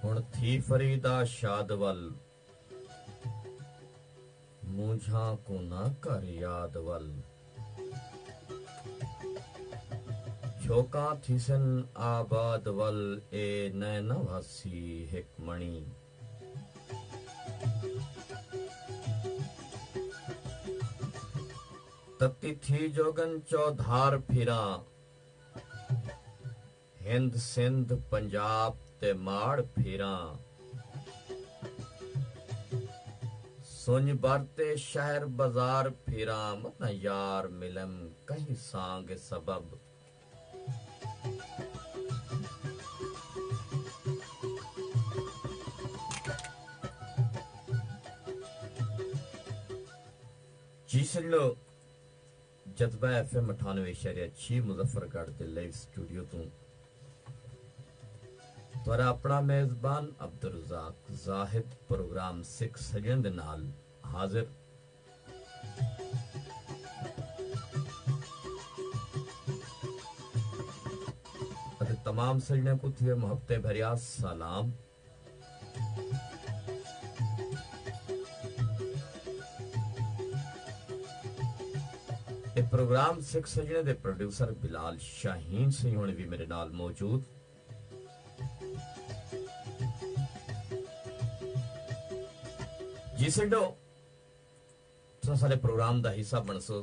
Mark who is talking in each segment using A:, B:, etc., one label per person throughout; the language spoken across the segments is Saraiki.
A: ہݨ تھی فریدا شاد ول مونجھاں کوں نہ کر یاد ول جھوکاں تھیسن آباد ول اے نئیں نہ وھسی ہک مݨی۔ تتی تھی جوڳن چودھار پھراں۔ ہند سندھ پنجاب تے ماڑ پھیراں۔ سنڄ بھر تے شہر بزار پھیراں۔ متاں یار ملم کہیں سانگ سبب۔ جسڑ۔ جذبہ ایف ایم اٹھانوے اشاریہ چھی مظفر گڑھ دے لائیو اسٹوڈیو توں تہاڈا اپنا میزبان عبدالرزاق زاہد پروگرام سکھ سجݨ دے نال حاضر۔ اتے تمام سجݨیاں کوں تھیوے محبتیں بھریا سلام۔ اے پروگرام سکھ سجݨے دے پروڈیوسر بلال شاہین سئیں ہوݨیں وی میݙے نال موجود۔ جی سنڈو تساں ساݙے پروگرام دا حصہ بݨسو۔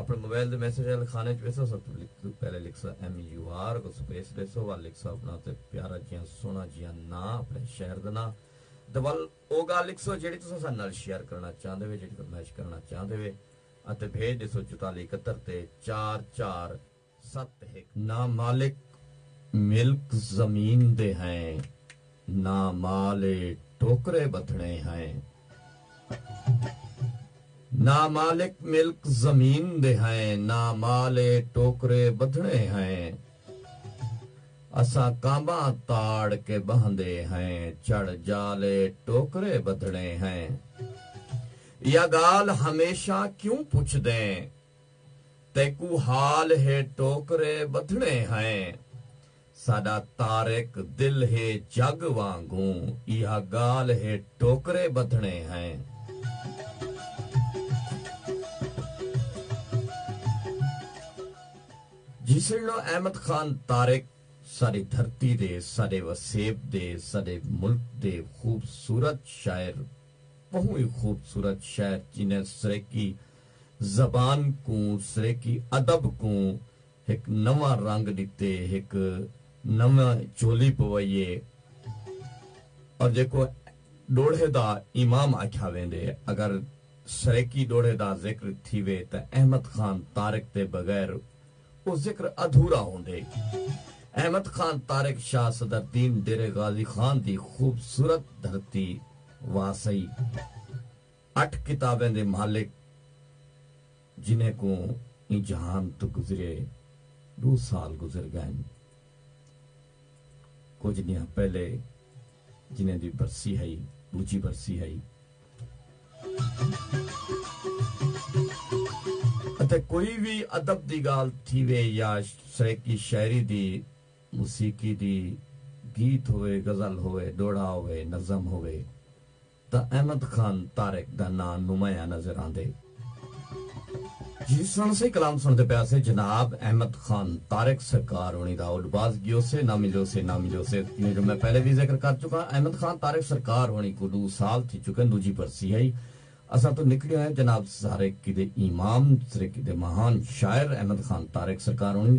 A: اپݨے موبائل دے میسج آلے خانے اچ ویسو سب توں پہلے لکھسا ایم یو آر اگوں سپیس ݙیسو ول لکھسا اپݨا تے پیارا جیاں سوہݨا جیاں ناں اپݨے شہر دا ناں تے ول او ڳالھ لکھسو جیڑھی تساں ساݙے نال شیئر کرݨا چاہندے وے جیڑھی فرمائش کرݨا چاہندے وے اتے بھیڄ ݙیسو چوتالی اکہتر تے چار چار ست ہک نہ مالک ملک زمین دے ہیں نہ مال اے ٹوکرے ودھنے ہیں نہ مالک ملک زمین دے ہیں نہ مال اے ٹوکرے ودھنے ہیں اساں کانباں تاڑ کے بہندے ہیں چڑھ جال اے ٹوکرے ودھنے ہیں یا گالھ ہمیشہ کیوں پچھدیں تیکوں حال ہے ٹوکرے ٻدھنے ہیں ساݙا طارق دل ہے جڳ وانگوں ایہا ڳالھ ہے ٹوکرے ٻدھنے ہیں۔ جیسڑلو احمد خان طارق ساݙی دھرتی دے ساݙے وسیب دے ساݙے ملک دے خوبصورت شاعر ٻہوں ای خوبصورت شاعر جنہیں سرائیکی زبان کوں سریکی ادب کوں ہک نواں رنگ ڈتے ہک نویں چولی پوائی اے اور جیکوں ڈوڑھے دا امام آکھیا ویندے اگر سریکی ڈوڑھے دا ذکر تھیوے تاں احمد خان طارق دے بغیر او ذکر ادھورا ہوندے احمد خان طارق شاہ صدر دین ڈیرے غازی خان دی خوبصورت دھرتی واسئی اٹھ کتابیں دے مالک جنہیں کوں ایں جہان توں گزریے ڈو سال گزر گئن۔ کجھ ڈینہاں پہلے جنہیں دی برسی ہئی ڈوجھی برسی ہئی۔ اتے کوئی وی ادب دی گال تھیوے یا سرائیکی شاعری دی، موسیقی دی، گیت ہووے، غزل ہووے، ڈوہڑا ہووے، نظم ہووے۔ تاں احمد خان طارق دا ناں نمایاں نظر آندے۔ جی سݨ سے کلام سݨدے پیا سے جناب احمد خان طارق سرکار ہوݨی دا اڈ باز گیو سے نہ ملیو سے نہ ملیو سے جیویں جو میں پہلے وی ذکر کر چکاں احمد خان طارق سرکار ہوݨی کوں ݙو سال تھی چکن ݙوجھی برسی ہئی اساں توں نکڑی ہوئیں جناب سرکے دے امام سرکے دے مہان شاعر احمد خان طارق سرکار ہوݨی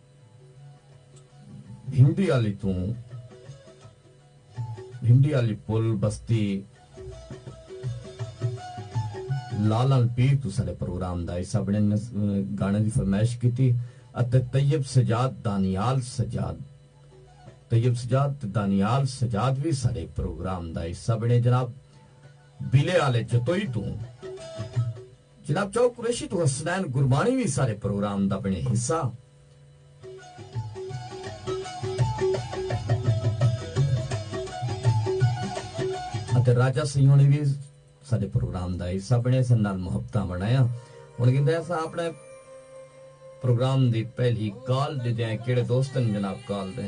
A: بھنڈی آلی توں بھنڈی آلی پل بستی لالان پیر توں ساڈے پروگرام دا حصہ بنڑن نے گانے دی فرمائش کیتی اتے طیب سجاد دانیال سجاد طیب سجاد تے دانیال سجاد وی ساڈے پروگرام دا حصہ بنڑے جناب بیلے آلے جتوئی توں جناب چاؤ قریشی توں حسنین گربانی وی سارے پروگرام دا بنڑے حصہ۔ اتے راجہ سیوݨی وی ساڈے پروگرام دا حصہ بنڑے سن نال محبتاں ونڈایاں۔ ہن گھندے اساں اپنڑے پروگرام دی پہلی کال ڈیدے ہیں کیڑے دوست ہن جناب کال دے۔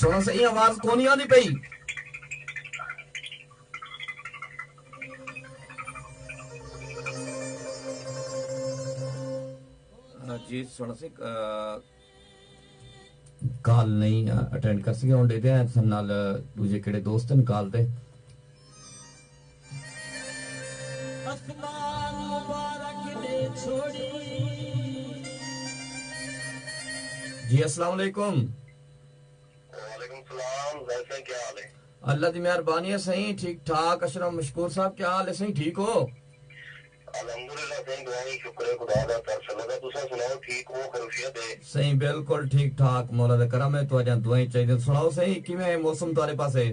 A: سونا سے ایں آواز کونی آندی پئی جی سونا سے کال نہیں اٹینڈ کر سکے ہن دیکھتے ہیں سن نال دوجے کیڑے دوستن کال تے اسمان مبارک دے چھوڑی۔ جی اسلام علیکم۔ وعلیکم
B: سلام ظاہر سائیں کیا حال ہے؟ اللہ دی مہربانی
A: ہے سائیں ٹھیک ٹھاک اشرف مشکور صاحب کیا حال ہے سائیں ٹھیک ہو؟ الحمدللہ
B: سائیں دعائیں شکر خدا دا تر سلدا تساں سناؤ ٹھیک ہو خیرفیت ہے؟ سائیں بالکل ٹھیک
A: ٹھاک مولا دا کرم ہے تہاڈیاں دعائیں چاہیدیاں سناؤ سائیں کیویں ہے موسم تہاڈے پاسے؟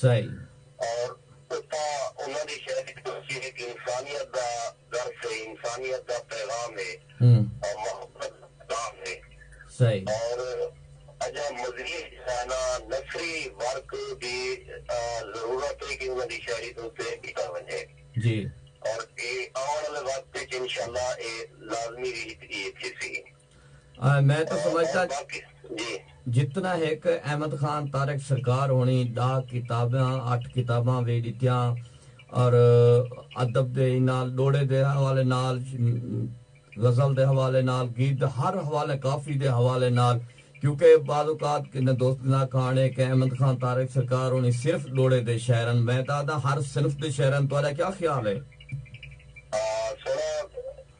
B: سئے۔
A: اور
B: اتھاں انہاں دی شعر اچ تشریح ہک انسانیت دا درس ہے، انسانیت دا پیغام ہے اور محبت دا پیغام ہے۔ سئے۔ اور اجاں مزید جو ہے نا نثری ورک دی ضرورت ہے کہ انہاں دی شاعری دے اتے کیتا ونجے۔ جی۔
A: اور اے
B: آوݨ آلے وقت اچ انشاءاللہ اے لازمی ہی تھیسی۔ میں
A: تاں سمجھدا جتنا ہک احمد خان طارق سرکار ہونی ڈاہ کتاباں اٹھ کتاباں وی ڈتیاں اور ادب دے نال ڈوڑے دے حوالے نال غزل دے حوالے نال گیت دے ہر حوالے کافی دے حوالے نال کیونکہ بعض اوقات کنے دوست نا کھان اے کہ احمد خان طارق سرکار ہونی صرف ڈوڑے دے شاعر ہن میں تاں آدھاں ہر صنف دے شاعر ہن تہاڈا کیا خیال اے؟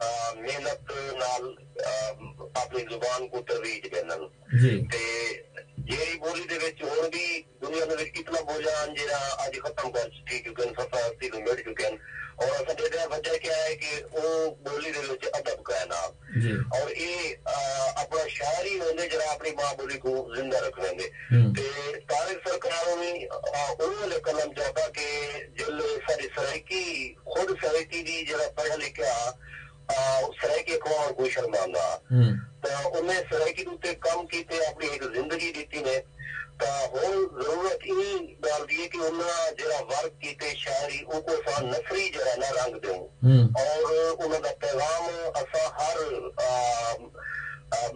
B: محنت نال اپݨی زبان کوں ترویج ݙیندن تے جیڑھی ٻولی دے وچ ہݨ وی دنیا دے وچ کتنا ٻولیاں ہن جیڑھاں اڄ ختم کر تھی چکن سفر ہستی توں مٹ چکن اور اساں ݙیکھدے ہاں وجہ کیا ہے کہ او ٻولی دے وچ ادب کائنا اور اے اپݨا شاعر ہی ہوندے جیڑھا اپݨی ماں ٻولی کوں زندہ رکھویندے تے طارق سرکار ہونی او ویلے قلم چاتا کہ جیلے ساݙی سرائیکی خود سرائیکی دی جیڑھا پڑھیا لکھیا ہا آ او سرائیکی اخبار کوں شرماندا ہا تاں انہیں سرائیکی دے اتے کم کیتے اپنی ہک زندگی ڈتی نے تاں ہن ضرورت ایں گالھ دی ہے کہ انہاں جیڑھا ورک کیتے شاعری اوکوں اساں نثری جیڑھا نہ رنگ ڈیوں اور انہاں دا پیغام اساں ہر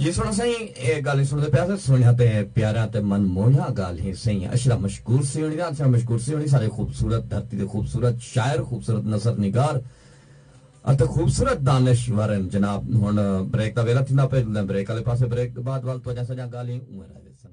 A: جی سونا سئیں اے گالھیں سنڑدے پیا سے سونہیاں تے پیاراں تے من موہیاں گالھیں سئیں اشرف مشکور سیوݨی دے اشرف مشکور سیوݨی سارے خوبصورت دھرتی دے خوبصورت شاعر خوبصورت نثر نگار اتے خوبصورت دانش ور ہن جناب ہن بریک دا ویلہ تھیندا پئے جلدے آں بریک آلے پاسے بریک دے بعد ول تہاڈیاں ساڈیاں گالھیں اونویں رہ ویسن۔